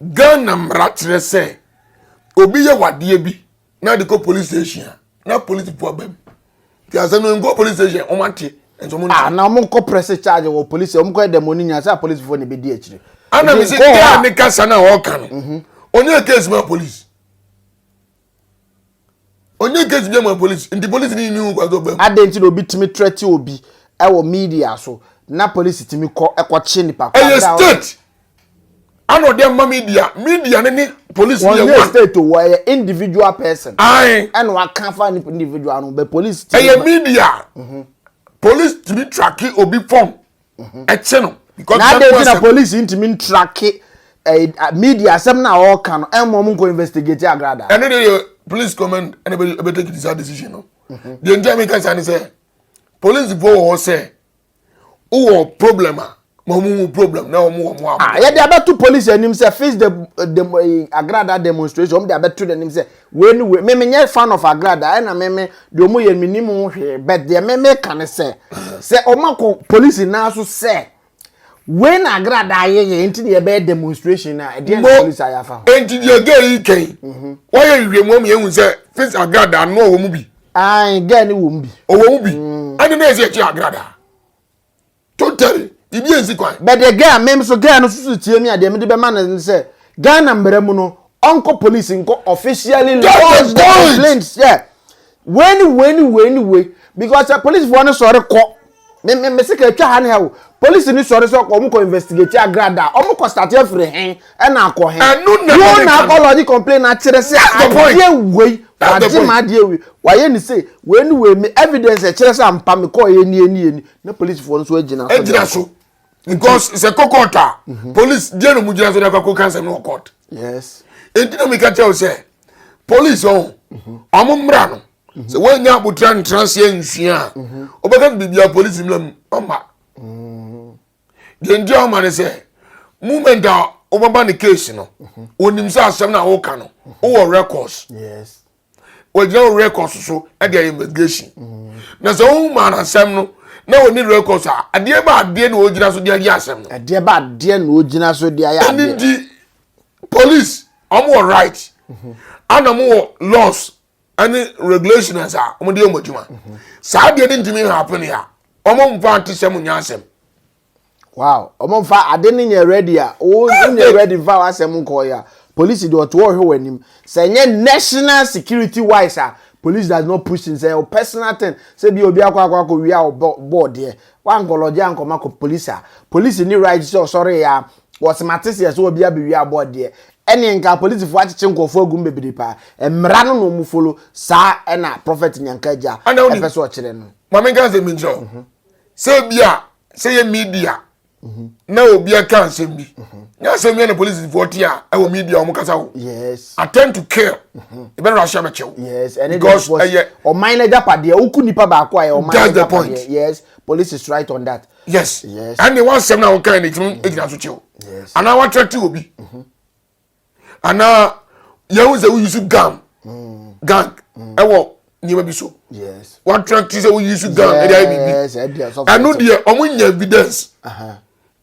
S2: Ghana mmara kyerɛ sɛ obi yɛ wadeɛ bi na de kɔ police station a na police po aba mu nti asɛ no nkɔ police station wɔn ate nso wɔn ah na wɔn nkɔ
S1: press charge wɔ police wɔn kɔ ɛdɛm wɔn ni nyina sɛ apolisifoɔ na ebedi akyire. ana mi si gaa
S2: ne kasa na ɔka no mhm. onye case ma police. onye case bi ama police nti police ni ni ho kwa so bam. adɛn nti na obi tumi trɛte
S1: obi ɛwɔ media so na police tumi kɔ ɛkɔ kye nipa kɔ ɛyɛ state
S2: ana ɔde ama media media ne ne police yɛ one wɔn yɛ state o
S1: wɔyɛ individual person ayi ɛna waka fa nipa individual no bɛ police tumi ɛyɛ media mhm.
S2: police tumi tracking obi phone mhm. ɛkye no because na adɛn ti na polisi
S1: ntumi ntrake eh, media asɛm no a ɔreka no ɛmma ɔmo nkɔ investigate agrada ɛno de yɛ police
S2: command ɛna ɛbɛtake this decision no mhm. deɛ nti a meka saa ne sɛ police foɔ wɔ hɔ sɛ wowɔ problem a ma ɔmo mu problem na ɔmo wɔ mo abo. Ah, yɛde abɛto
S1: polisi anim sɛ face the the eh, agrada demonstration ɔmo de abɛto n'anim sɛ Wei ne wei me me nyɛ fan of agrada ɛna me me deɛ ɔmo yɛ me nim ho hwee but deɛ me me ka ne sɛ sɛ ɔmo akɔ polisi nan so sɛ wei na agrada ayɛ yɛ nti na yɛbɛyɛ demonstration na ɛdeɛ na polisi ayɛ afa ho. Nti deɛ gay yi
S2: kɛn mhm. wɔyɛ nhwehwɛmu ama yɛn hu sɛ fis agrada ano ɔwɔ mu bi. Ayi gay ne
S1: wɔ mu bi. Ɔwɔ mu bi mm.
S2: ɛne na ɛsɛ ɛkyɛ agrada. Totally, biribi ansi kwan. But the girl, mem so
S1: girl no susu tie me a deɛ mede bɛma no ne sɛ Ghana mmara mu no ɔnkɔ police nkɔ officially lodge the complaint sɛ wei ne wei ne wei ne wei because sɛ policefoɔ no sɔre kɔ me me me se ka atwa ha ne ha o police no sɔre sɛ wɔn kɔ investigate agrada a wɔn kɔ start afiri he ɛna akɔ he Ɛno na wɔn na akɔ lodge complaint akyerɛ sɛ That's the point. adeɛ wei That's the wagye point. ma adeɛ wei wayɛ ne se wei ne wei me evidence ɛkyerɛ sɛ ampa me kɔɔ yɛ nie nie nie na polisifoɔ nso agyina so agyina so because
S2: sɛ kɔ court a mhm. police deɛ na ɔmo gyina so na akɔkɔ kansa no wɔ court yes
S1: eti na mi ka kyerɛ
S2: o sɛ police ɔn mhm. ɔmo mmra no mhm. sɛ wɔn nyɛ abotire ntena seɛ nsua a ɔbɛka no biribi a police mmra mu ɔma deɛ nti ɔma no sɛ movement a ɔbɛba ne case no onim sɛ asɛm na ɔka no ɔwɔ records. Yes. wɔgyina wo records so de ayɛ investigation na sɛ wohu maa no asɛm no na wɔni records a adeɛ ba adeɛ na wɔgyina so de ayɛ asɛm no adeɛ ba adeɛ na
S1: wɔgyina so de ayɛ adeɛ ɛne nti
S2: police wɔn wɔ right ana wɔn wɔ laws ɛne regulations a wɔn de yɛ wɔn adwuma saa adeɛ no ntumi happen a wɔn mfa ante sɛ mo nyɛ asɛm. wow
S1: ɔmo nfa ade ne nyɛ ready a wonyɛ ready nfa w'asɛm nkɔɔ ya polisi deɛ ɔte ɔhwɛ w'anim sɛ nyɛ national security wise a police does not push in sɛ o personal thing sɛ bi obi akɔ akɔ akɔ wia ɔbɔ bɔɔ deɛ wankɔlɔgye ankɔma kɔ polisi a polisi ni right sɛ ɔsɔre ya wɔsemate seɛ sɛ obi abɛwia abɔ deɛ ɛne nka polisifoɔ akyekye nkurɔfoɔ agum bebree paa mmara no na ɔmu folo saa ɛna prɔfɛt nyanka agya ɛpɛ sɛ ɔkyerɛ no. maame nka sɛ menkyerɛ wo mhm.
S2: sɛ ebia sɛ yɛ media mhm. na obi aka nsɛm bi mhm. nyɛ asɛm bi na polisifoɔ te a ɛwɔ media wɔn kasa o attend to kill ɛbɛn na ahyɛ bɛkyɛw because
S1: ɛyɛ ɔman
S2: na
S1: japadeɛ woku nipa baako a yɛ ɔman na japadeɛ yes
S2: police is
S1: right on that yes ɛnni
S2: wɔn asɛm na wɔn kan na egyina so kyɛw anaa wɔn atɛrɛ ti
S1: obi.
S2: anaa yɛhu sɛ woyi so gam gang ɛwɔ nneɛma bi so watena ti
S1: sɛ woyi
S2: so gang ɛde ayɛ biribi ɛno
S1: deɛ
S2: wɔn nya evidence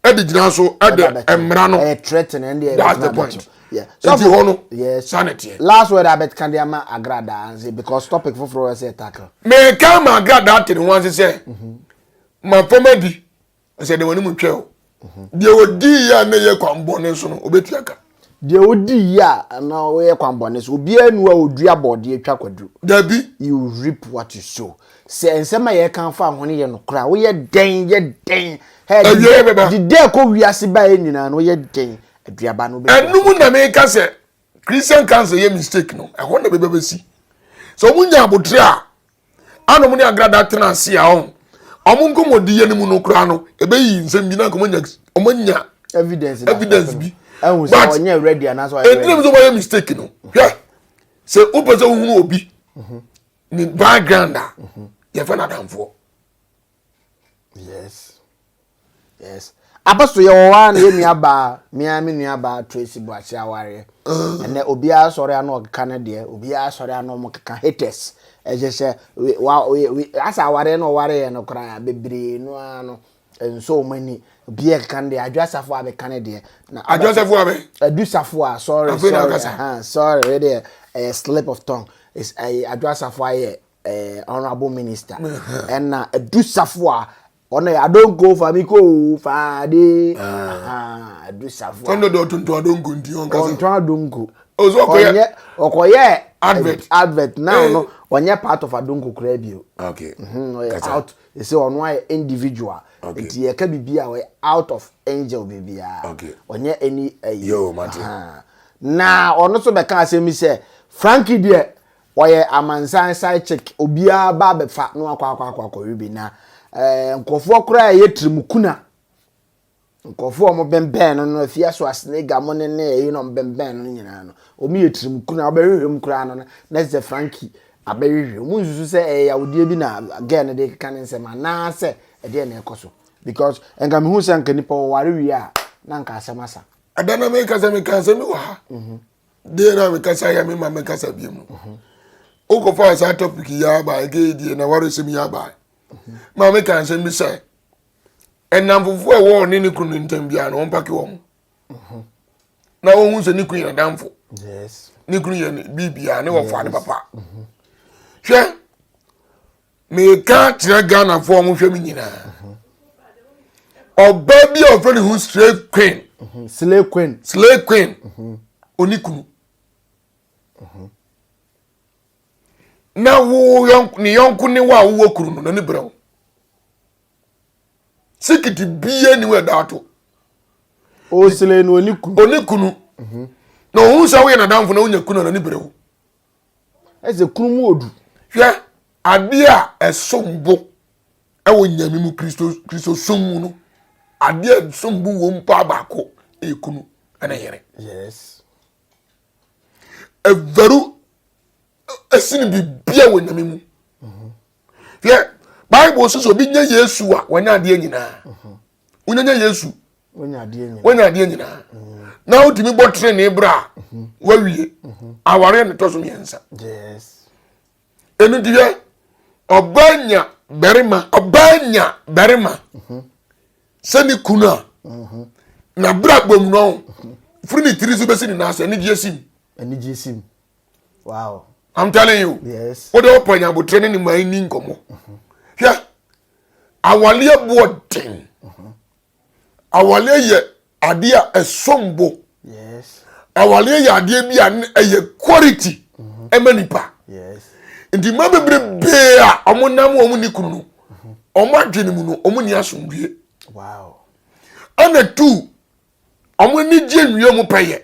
S2: ɛde gyina so ɛde mmara no that's
S1: the point
S2: nti hɔ no sanni teɛ.
S1: last word
S2: abet kan de
S1: ama agradaa nse because topic foforɔ ɛsɛ tackle. mɛ kan ma
S2: agradaa tiri ho ase sɛ ma fama di. ɛsɛ de wɔn mu twɛ o deɛ ɔdi yie a na ɛyɛ kwan bɔne so no ɔbɛtua ka deɛ ɔdi
S1: yie a na ɔyɛ kwan bɔne so obiara nu a ɔdua bɔɔdeɛ twa kwaduro dabi you
S2: reap what
S1: you sow sɛ nsɛm a yɛka fa ho no yɛ nokorɛ a woyɛ dɛn yɛ dɛn awieɛ bɛba de dɛ kɔ wiase baeɛ nyinaa no woyɛ dɛn aduaba no ɛno mu na meka sɛ
S2: Christian council yɛ mistake no ɛhɔ na bɛbɛ bɛsi sɛ wɔn nya abotire a ana wɔn ne agrada tena ase a wɔn wɔn nkɔmɔdi yɛ ne mu no koraa no ɛbɛyi nsɛm bi na nkɔmɔ nya wɔn nya evidence
S1: evidence bi
S2: but
S1: ɛdina mi sɛ wɔn ayɛ mistake
S2: no hwɛ sɛ o pɛ sɛ o hunu obi ne background a yɛ fɛ na danfoɔ. yes
S1: yes apostle yɛ wɔ hɔ a na yɛ nua baa mmea me nua baa tracy boakye awareɛ ɛnɛ obiara sɔre ano ɔkeka ne deɛ obiara sɔre ano ɔmo keka haters ɛhyɛ sɛ we wa we we asa awareɛ na ɔware yɛ no koraa bebree no ara no nso ɔmo ani obiara keka ne deɛ adwo asafo a bɛka ne deɛ na adwo asafo a
S2: bɛ adu safo a sorry
S1: sorry ɛhan sorry ɛdeɛ ɛyɛ slip of tongue ɛyɛ adwo asafo ayɛ eh, honorable minister ɛna eh, adusafo a ɔno yɛ adonko fa mi ko faade ah. adusafo a ɔno ɔtontɔn
S2: adonko nti ɔnkasa ɔntɔn adonko
S1: ɔnyɛ
S2: ɔkɔyɛ
S1: advert advert
S2: now eh. no
S1: ɔnyɛ part of adonko koraa bi o okay mhm, ɔyɛ
S2: out
S1: ɛsɛ ɔno ayɛ individual nti yɛka biribi a ɔyɛ out of angel biribiara ɔnyɛ ɛni ɛyi
S2: na
S1: ɔno nso bɛka asɛm bi sɛ frankie deɛ Ɔyɛ amansan side chick obiara ba abɛfa na wakɔ akɔ akɔ akɔwe bi na ɛɛ eh, nkurɔfoɔ koraa ɛyɛ tirimukuna nkurɔfoɔ a wɔbɛnbɛn no no afia so asenega mo ne ne ɛyi na wɔbɛnbɛn no nyinaa no wɔn yɛ tirimukuna wɔbɛhwehwɛ mu koraa no na ɛsɛ sɛ frankie abɛhwehwɛ wɔn nsusu sɛ ɛyɛ yawodeɛ bi na girl no de keka ne nsɛm anaasɛ ɛdeɛ na ɛkɔ so because nka mehu sɛ nka nipa wɔware wie a na nka asɛm asa ɛda na meka sɛ
S2: meka asɛm bi wɔ ha mhm. deɛ na mekasa yɛ mema mekasa bie mu wokɔfaa saa topic yi aba ɛgɛyi deɛ na waresɛm yi aba ma meka nsɛm bi sɛ ɛnamfofoɔ a ɛwɔ ɔne ne kunu ntam biara na wɔmpake wɔ mo na wɔhu sɛ ne kunu yɛ damfo ne
S1: kunu yɛ
S2: biribiaa ne wɔfaa ne papa hwɛ meka kyerɛ ghanafoɔ a wɔhwɛ me nyinaa ɔbaa bi a ɔfrɛ ne ho slay queen mhm. slay queen slay queen mhm. ɔni kunu mhm. na wo ne yɔnko ne wo a wowɔ kunu no n'ani berɛ wo sikiti bie ni wo ɛda ato
S1: ɔslay no ɔni kunu ɔni kunu
S2: na ɔhu sɛ woyɛ nadamfo na wonya kunu a n'ani berɛ wo
S1: Ɛsɛ kunu mu odu. Hwɛ
S2: adeɛ a ɛsom bo wɔ nyame mu kristo kristo som mu no adeɛ a ɛsom bo wɔ mu paa baako ɛyɛ kunu ɛna yere. Yes. Ɛvaru ɛsini bibia wɔ nyame mu. Hwɛ bible sisi obi nya yesu a wanya adeɛ nyinaa. wonyanya yesu wonya adeɛ nyinaa na wotumi bɔ tenene berɛ a wawie awareɛ ne tɔ so mmiɛnsa ɛno deɛ ɔbaa nya barima ɔbaa nya barima sɛ ne kunu a na berɛ a bom no firi ne tiri so bɛsi ne nan sɛ anigyeɛ sim anigyeɛ sim
S1: wow i'm telling you
S2: wode wopɛ nya
S1: abotire
S2: ne ne man ni nkɔmmɔ hwɛ Awaleɛ boɔ den. Awaleɛ yɛ adeɛ a ɛsom bo.
S1: Awaleɛ yɛ
S2: adeɛ bi a ɛyɛ quality ɛma nipa.
S1: Nti mmaa
S2: bebrebe a wɔn nam wɔn ni kunu no, wɔn adwene mu no, wɔn ni asomdwie.
S1: Ɛna
S2: tu, wɔn ani gye nwie wɔn pɛ yɛ.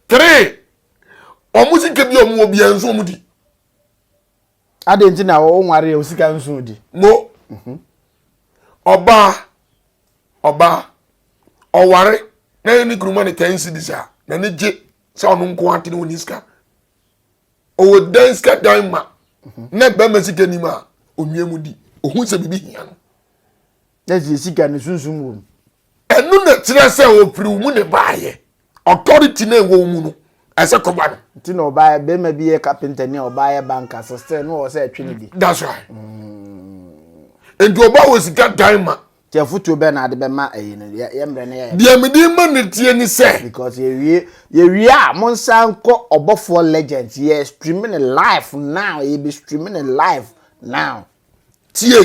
S1: Three,
S2: wɔn sika bi a wɔn wɔ bi nso wɔn di.
S1: Adịn nti na o nware ya osika nsu di? Mo. Mhm.
S2: Ọba ọba ọware na yɛ ne kunu ma ne ten cedis a na ne gye sɛ ɔno nko ate ne wɔni sika ɔwɔ dan sika dan ma mhm. na bɛma sika nim a onwie mu di ohun sɛ biribi hia no na sɛ
S1: yɛsi ka ne sunsum wɔ mu. Ɛno na
S2: kyerɛ sɛ ɔfiri wo mu na ɛbaeɛ. Authority na ɛwɔ wo mu no, ɛsɛ kɔba no. Nti na ɔbaeɛ, bɛrima
S1: bi yɛ kapenta ni a ɔbaa yɛ banka, so still na ɔwɔ sɛ ɛtwe ne bi. That's right.
S2: Mm. Nti ɔbaa wɔ sika dan ma. Nti afotuo bɛn na
S1: ade bɛma ɛyi no, yɛ mmerɛ no yɛ. Deɛ mede ma no tie
S2: ne sɛ. Because yɛwie,
S1: yɛwie a, mo nsa nkɔ ɔbɔfoɔ legends, yɛ stream ne live now, yɛbɛ stream ne live now. tie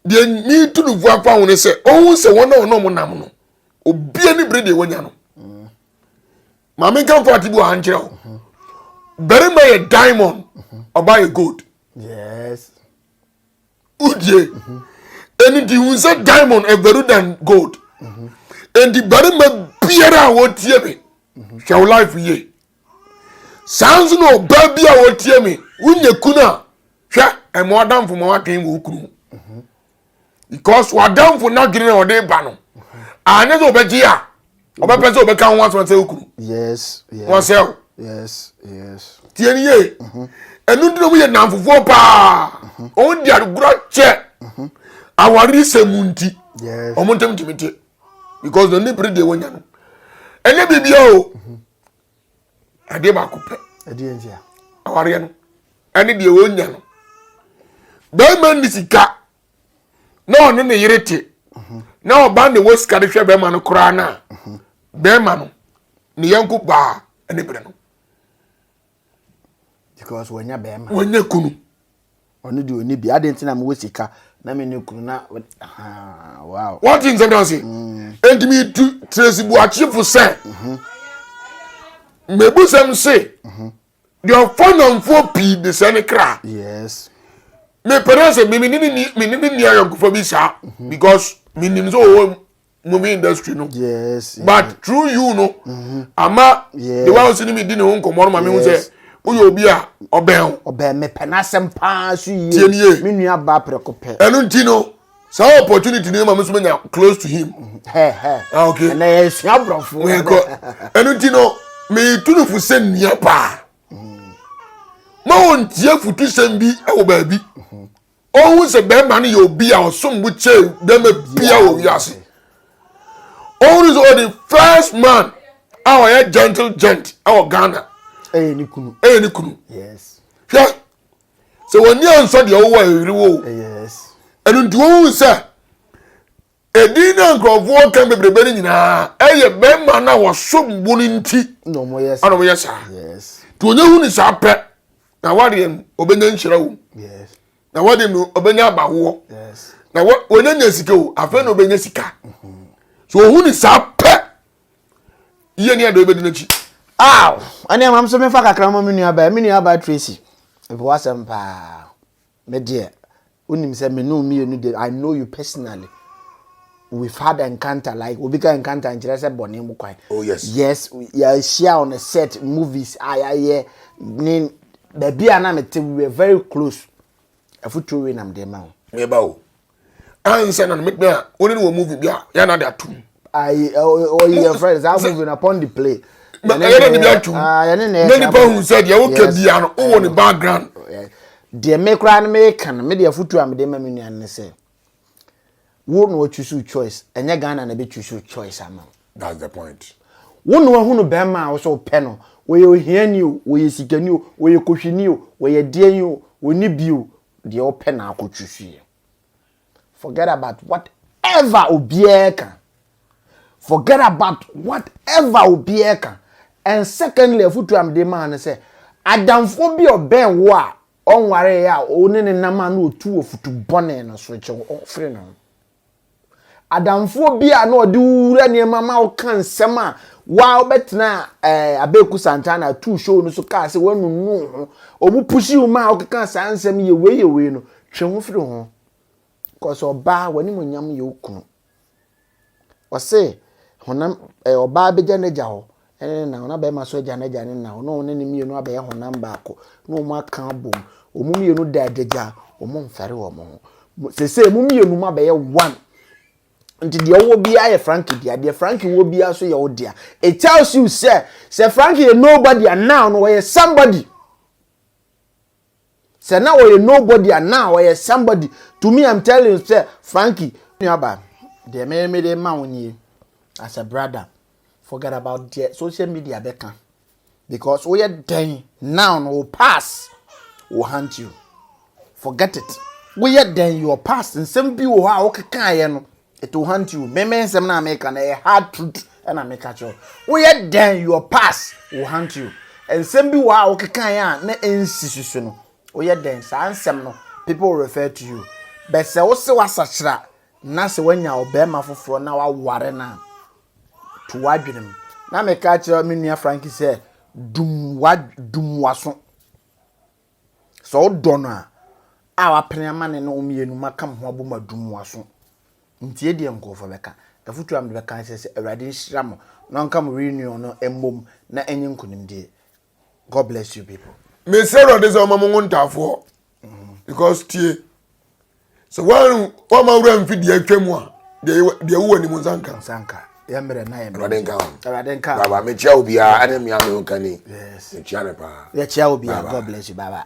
S2: deɛ ne tu no fua fa ho ne sɛ ɔhu sɛ wɔn a wɔn ɔmo nam no obi ani bere deɛ wɔnya no maame nka nfa ati bi wɔ ha nkyerɛ o barima yɛ diamond ɔbaa yɛ gold yes udie ɛni ti hu sɛ diamond ɛbɛru than gold ɛnti barima biara a wɔtie me hwɛ wo life yie. saa nso na ɔbaa bi a ɔtie me wonya kunu a hwɛ ɛma ɔdamfo ma wadwen wɔ okunu ho mhm. because wadamfo no adwene na ɔde ba no anyɛ sɛ ɔbɛgye a ɔbɛpɛ sɛ ɔbɛka ho asɛm sɛ okunu wɔsɛ
S1: o tie no
S2: yie mhm. ɛno nti na ɔmo yɛ namfofoɔ paa mhm. ɔmo de agorɔ kyɛ awari sɛ mu nti ɔmo ntɛm
S1: tumi te
S2: because na ne bere deɛ wɔnya no ɛnyɛ biribiara o. adeɛ baako pɛ ɛdeɛ ntia
S1: awareɛ no
S2: ɛne deɛ wɔnya no bɛrima nni sika na ɔne ne yere te na ɔba ne wɔ sika de hwɛ bɛrima no koraa no a bɛrima no ne yɛnko baa ne berɛ no
S1: because wɔnya bɛrima wɔnya kunu
S2: ɔno deɛ
S1: ɔni bi adeɛ nti na mewɔ sika na me ne kunu na wow wɔte nsɛm no
S2: ase mm. enti metu trɛsi boakyefo sɛ mebusɛm mhm. se mhm. deɛ ɔfɔ namfoɔ pii de sɛ ne kra yes
S1: mepɛrɛ
S2: sɛ mene ne nua yɔnkofa bi saa mhm. because menim sɛ ɔwɔ movie industry no yes, but yes.
S1: through you
S2: no mm-hmm. ama yes. the one who see me di ne ho nkɔmɔ no ma mi hu sɛ woyɛ obi a ɔbɛn o. ɔbɛn mi pɛ n'asɛm
S1: paa so yie tiɛ ni yie mi nua ba
S2: apɛrɛko
S1: pɛ. ɛnu ti no
S2: saa opportunity ni ma mi so mi nya close to him. hɛ hɛ ah okay ɛnna yɛ sua
S1: aborɔfo. wɛn kɔ
S2: ɛnu ti no mi tunufu sɛ nia paa mm. ma wɔn tie futu sɛm bi ɛwɔ baabi. Mm-hmm. Ɔhu sɛ bɛrima no yɛ obi a ɔsom bo kyɛn bɛrima bia wɔ wiase. Ɔhunu sɛ ɔde first man a ɔyɛ gentle gent wɔ Ghana. Ɛyɛ ne kunu.
S1: Ɛyɛ ne kunu. Yes. Hwɛ
S2: sɛ wɔn ani ansɔ deɛ ɔwɔ ɛyere wɔ o. Yes.
S1: Ɛnu nti wɔn
S2: sɛ Edin a nkurɔfoɔ ka bebrebe no nyinaa, ɛyɛ mmarima no a wɔsom bo no nti na wɔyɛ saa.
S1: Nti
S2: onye hu no saa pɛ, na wadeɛ no, ɔbɛnya nhyira wom. Na
S1: wadeɛ no,
S2: ɔbɛnya abawoɔ. Na
S1: wɔnya nya
S2: sika o, afei na ɔbɛnya sika. Mhm. So ɔhu no saa pɛ, yie ne adɔe bɛdi n'akyi. Aw, ɛne
S1: ɛmam so mefa kakra ma me nuabaa, me nuabaa Tracy, ɛbɛwɔ asɛm paa, me deɛ. Wonim sɛ me ne wo mmienu de, I know you personally. We've had encounter like obi ka encounter nkyerɛ sɛ bɔne mu kwan. Oh yes. Yes,
S2: yɛahyia
S1: on a set movies a yɛayɛ ne baabi a na mete we were very close. Afotuo wei nam de ma wo. Meba o.
S2: Ansa na metumi a wo ne no wɔ movie bi a yɛn na de atom. ayi ɔyi
S1: yɛn fɛn saa movie na upon the play. na
S2: ɛyɛ na ne bi atum na nipa hu sɛ deɛ woka bia no wowɔ ne background. deɛ
S1: me koraa no meka no me deɛ afotu a mede ma me nua no sɛ wo na wɔtwusu choice ɛnyɛ ghana na bɛtwusu choice ama wo. that's the point.
S2: wo na wahunu
S1: bɛrima a wo sɛ wopɛ no wɔyɛ ohiani o wɔyɛ sikani o wɔyɛ kohwini o wɔyɛ deɛn o wɔni bi o deɛ wopɛ na akɔtwusuiɛ. Forget about whatever obiara ka. Forget about whatever obiara ka. And secondly, afutu a mede maa no sɛ, adamfoɔ bi a ɔbɛn wo a ɔnware a wo ne ne nam a na ɔtu wɔ futu bɔne no so kyɛ wo firi no. Adamfoɔ bi a na ɔde wo wura nneɛma ma wo ka nsɛm a wa wobɛtena eh, Abeku Santana atuu show no so kaa sɛ wanunu ho. Ɔmu pusi wo ma a wokeka saa nsɛm yɛ wei yɛ wei no, Twe ho firi ho, cause ɔbaa w'animuonyam yɛ wo kunu. Ɔse honam ɛɛ eh, ɔbaa bɛgya n'agya hɔ ɛne ne na ɔna bɛrima so agya n'agya ne na ɔno ne ne mmienu abɛyɛ honam baako na wɔn aka abom wɔn mmienu da adagya wɔn mfɛre wɔn ho sese wɔn mmienu mu abɛyɛ one nti deɛ ɔwɔ biara yɛ frankie dea deɛ frankie wɔ biara so yɛ wo dea it tells you sɛ sɛ frankie yɛ nobody and now no ɔyɛ somebody. Sɛ na ɔyɛ nobody a na ɔyɛ somebody to me I'm telling you sɛ Frankie nuaba deɛ me me de ma wo nie as a brother forget about deɛ social media bɛka because woyɛ dɛn now no wo pass will hunt you forget it woyɛ dɛn your past nsɛm bi wɔ hɔ a wokekaeɛ no It will haunt you. Me me nsɛm na meka na ɛyɛ hard truth ɛna meka kyerɛ wo. Woyɛ dɛn your past will haunt you. Nsɛm bi wɔ a wokeka yɛ a na ɛnsi so so no. Woyɛ dɛn saa nsɛm no people will refer to you. Bɛ sɛ wo se wasakyera na sɛ wanya ɔbɛrima foforɔ na waware no a to w'adwene mu. Na meka kyerɛ me nua Frankie sɛ dum wa dum waso. Sɛ wodɔ no a, a wapene ama ne ne wo mmienu ma ka mo ho abom adum mo aso. Ntie deɛ nkurɔfoɔ bɛka. Afotuo a mede bɛka ne sɛ, sɛ Awurade nhyira mo na ɔnka mo reunion no mmom na ɛnyɛ nkonimdie. God bless you people. Mesrɛ Awurade sɛ
S2: ɔmma mo nwo ntaafoɔ because tie. sɛ woama wura mfi deɛ atwa mu a deɛ wowɔ anim nsa nka nsa nka
S1: yɛmmerɛ na yɛmmerɛ awurade nka awurade nka baba
S2: mekyia wo biara ɛne
S1: mmea
S2: me ho kani mekyia
S1: ne
S2: paa yɛkyia wo
S1: biara
S2: god
S1: bless
S2: you baba